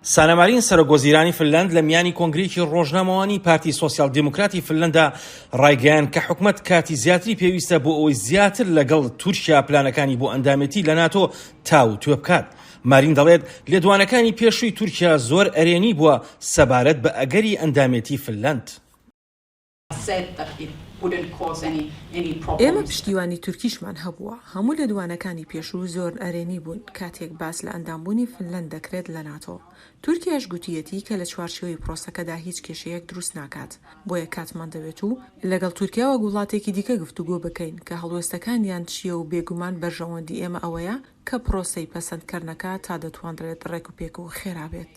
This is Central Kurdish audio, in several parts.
سانا مارین سەرۆک وەزیرانی فنلەند لە میانی کۆنگرەیەکی ڕۆژنامەوانی پارتی سۆسیال دیموکراتی فنلەندا ڕایگەیان کە حکومەت کاتی زیاتری پێویستە بۆ ئەوەی زیاتر لەگەڵ تورکیا پلانەکانی بۆ ئەندامێتی لە ناتۆ تاو توێ بکات. مارین دەڵێت لێدوانەکانی پێشووی تورکیا زۆر ئەرێنی بووە سەبارەت بە ئەگەری ئەندامێتی فنلەند. ئێمە پشتیوانی تورکیشمان هەبووە، هەموو لێدوانەکانی پێشوو زۆر نەرێنی بوون کاتێک باس لە ئەندامبوونی فنلەند دەکرێت لە ناتۆ، تورکیاش گوتییەتی کە لە چوارچێوەی پرۆسەکەدا هیچ کێشەیەک دروست ناکات، بۆیە کاتمان دەوێت و لەگەڵ تورکیا وەک وڵاتێکی دیکە گفتوگۆ بکەین کە هەڵوێستەکانیان چییە و بێگومان بەرژەوەندی ئێمە ئەوەیە کە پرۆسەی پەسەندکەرنەکە تا دەتوانرێت ڕێکوپێک و خێرا بێت.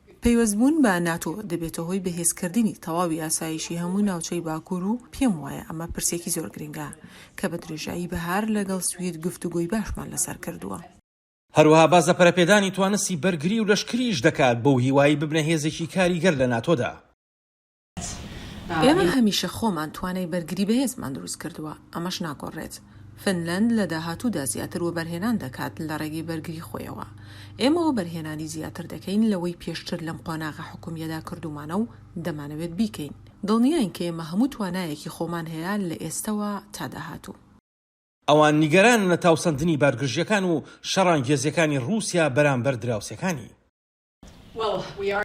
پەیوەستبوون بە ناتۆ دەبێتە هۆی بەهێزکردنی تەواوی ئاسایشی هەموو ناوچەی باکوور و پێم وایە ئەمە پرسێکی زۆر گرنگە کە بە درێژایی بەهار لەگەڵ سوید گفتوگۆی باشمان لەسەر کردووە. هەروەها باس لە پەرەپێدانی توانستی بەرگری و لەشکریش دەکات بەو هیوایەی ببنە هێزێکی کاریگەر لە ناتۆدا. ئێمە هەمیشە خۆمان توانای بەرگری بەهێزمان دروست کردووە، ئەمەش ناگۆڕێت. فنلەند لە داهاتوودا زیاتر وەبەرهێنان دەکات لە ڕێگەی بەرگری خۆیەوە. ئێمە وەبەرهێنانی زیاتر دەکەین لەوەی پێشتر لەم قۆناغە حکومییەدا کردوومانە و دەمانەوێت بیکەین. دڵنیاین کە ئێمە هەموو توانایەکی خۆمان هەیە لە ئێستەوە تا داهاتوو. ئەوان نیگەرانن لە تاوسەندنی بارگرژییەکان و شەڕانگێزییەکانی ڕووسیا بەرامبەر دراوسێکانی.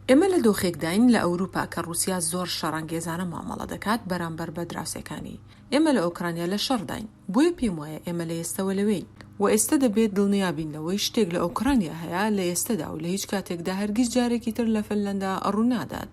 ئێمە لە دۆخێکداین لە ئەوروپا کە ڕوسیا زۆر شەڕەنگێزانە مامەڵە دەکات بەرامبەر بە دراوسێکانی. ئێمە لە ئۆکرانیا لە شەڕداین. بۆیە پێم وایە ئێمە لە ئێستەوە لەوێین. وە ئێستە دەبێت دڵنیا بین لەوەی شتێک لە ئۆکرانیا هەیە لە ئێستەدا و لە هیچ کاتێکدا هەرگیز جارێکی تر لە فنلەندا ڕوونادات.